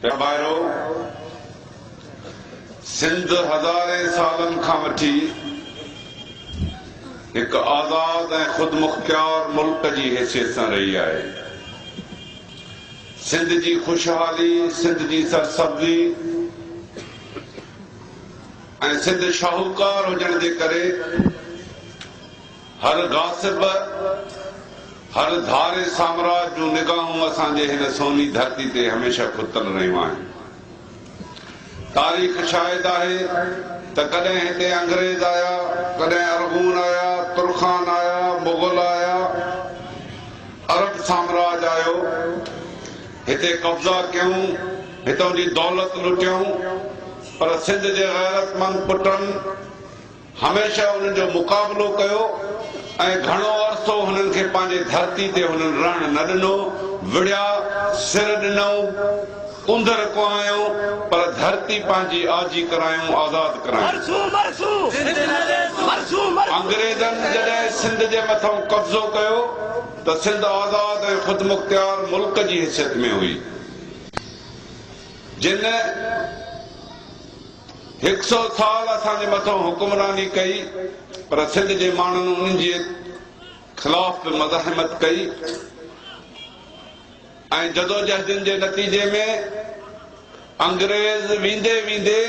اي ڀائرو! سنڌ هزارين سالن کان وٺي هڪ آزاد ۽ خودمختيار ملڪ جي حيثيت سان رهي آهي. سنڌ جي خوشحالي، سنڌ جي سرسبزي ۽ سنڌ شاهوڪار هجڻ جي ڪري، هر غاصب، هر ڌاري سامراج جون نگاهون اسان جي هن سوني ڌرتي تي هميشه کتل رهيون آهن. تاريخ شاهد آهي ته ڪڏهن هتي انگريز آيا، ڪڏهن ارغون آيا، ترخان آيا، مغل آيا، عرب سامراج آيو، هتي قبضا ڪيائون، هتئون جي دولت لٽيائون، پر سنڌ جي غيرتمند پٽن، هميشه انهن جو مقابلو ڪيو ۽ گهڻو عرصو هنن کي پنهنجي ڌرتي تي هنن رهڻ نه ڏنو، وڙهيا، سر ڏنائون، اندر ڪهايائون، پر ڌرتي پنهنجي آجي ڪرايائون، آزاد ڪرايائون. انگريزن جڏهن سنڌ جي مٿئون قبضو ڪيو ته سنڌ آزاد ۽ خودمختيار ملڪ جي حيثيت ۾ هئي، جنهن. هڪ سئو سال اسان جي مٿان حڪمراني ڪئي پر سنڌ جي ماڻهن انهن جي خلاف به مزاحمت ڪئي ۽ جدوجهدن جي نتيجي ۾ انگريز ويندي ويندي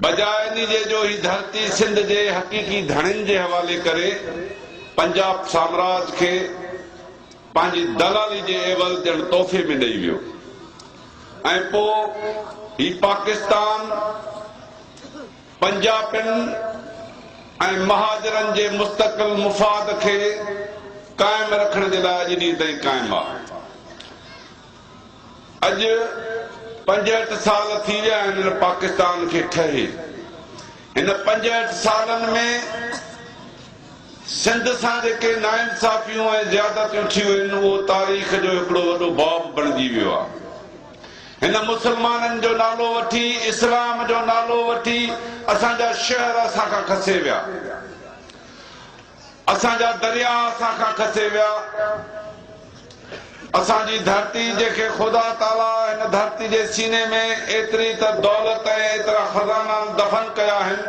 بجاء انهي جي جو هي ڌرتي سنڌ جي حقيقي ڌڻين جي حوالي ڪري پنجاب سامراج کي پنهنجي دلالي جي عيوض ڄڻ تحفي ۾ ڏئي ويو ۽ پوء هي پاڪستان پنجابين ۽ مهاجرن جي مستقل مفاد کي قائم رکڻ جي لاء اڄ ڏينهن تائين قائم آ. اڄ پنجهٺ سال ٿي ويا آهن هن پاڪستان کي ٺهي. هن پنجهٺ سالن ۾ سنڌ سان جيڪي ناانصافيون ۽ زيادتيون ٿيون آهن اهو تاريخ جو هڪڙو وڏو باب بڻجي ويو آهي. هن مسلمانن جو نالو وٺي، اسلام جو نالو وٺي اسان جا شهر اسان کان کسي ويا. اسان جا درياء اسان کان کسي ويا، اسان جي ڌرتي جنهن کي خدا تعاليٰ هن ڌرتي جي سيني ۾ ايتري ته دولت ۽ ايترا خزانا دفن ڪيا آهن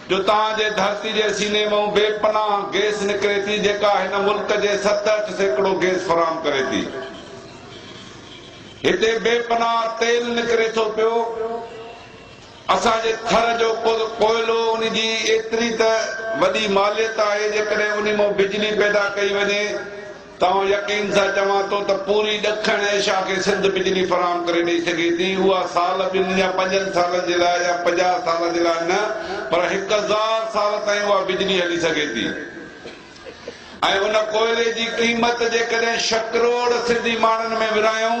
جو توهان جي ڌرتي جي سيني مئون بي پناهه گيس نڪري ٿي جيڪا هن ملڪ جي ست اٺ سيڪڙو گيس فراهم ڪري ٿي. هتي بي پناهه تيل نڪري ٿو پيو. اسان جي ٿر جو ڪل ڪوئلو ان جي ايتري ته وڏي ماليت آهي جيڪڏهن ان مان بجلي پيدا ڪئي وڃي ته آئون يقين سان چوان ٿو ته پوري ڏکڻ ايشيا کي سنڌ بجلي فراهم ڪري ڏئي سگهي ٿي اها سال ٻن يا پنجن سالن جي لاء يا پنجاهه سال جي لاء نه پر هڪ هزار سال تائين اها بجلي هلي سگهي ٿي ۽ ان ڪوئلي جي قيمت جيڪڏهن شڪروڙ سنڌي ماڻهن ۾ ورهايون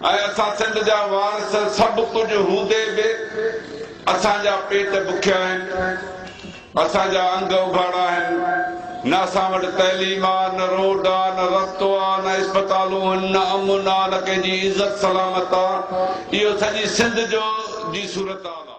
۽ اسان سنڌ جا وارث سڀ ڪجهه هوندي به اسان جا پيٽ بکيا آهن، اسان جا انگ اگهاڙا آهن، نه اسان وٽ تعليم آ، نه روڊ آ، نه رستو آ، نه اسپتالون هن، نه امن آ، نه ڪنهن جي عزت سلامت آ، اهو سڄي سنڌ جو جي صورتحال آ.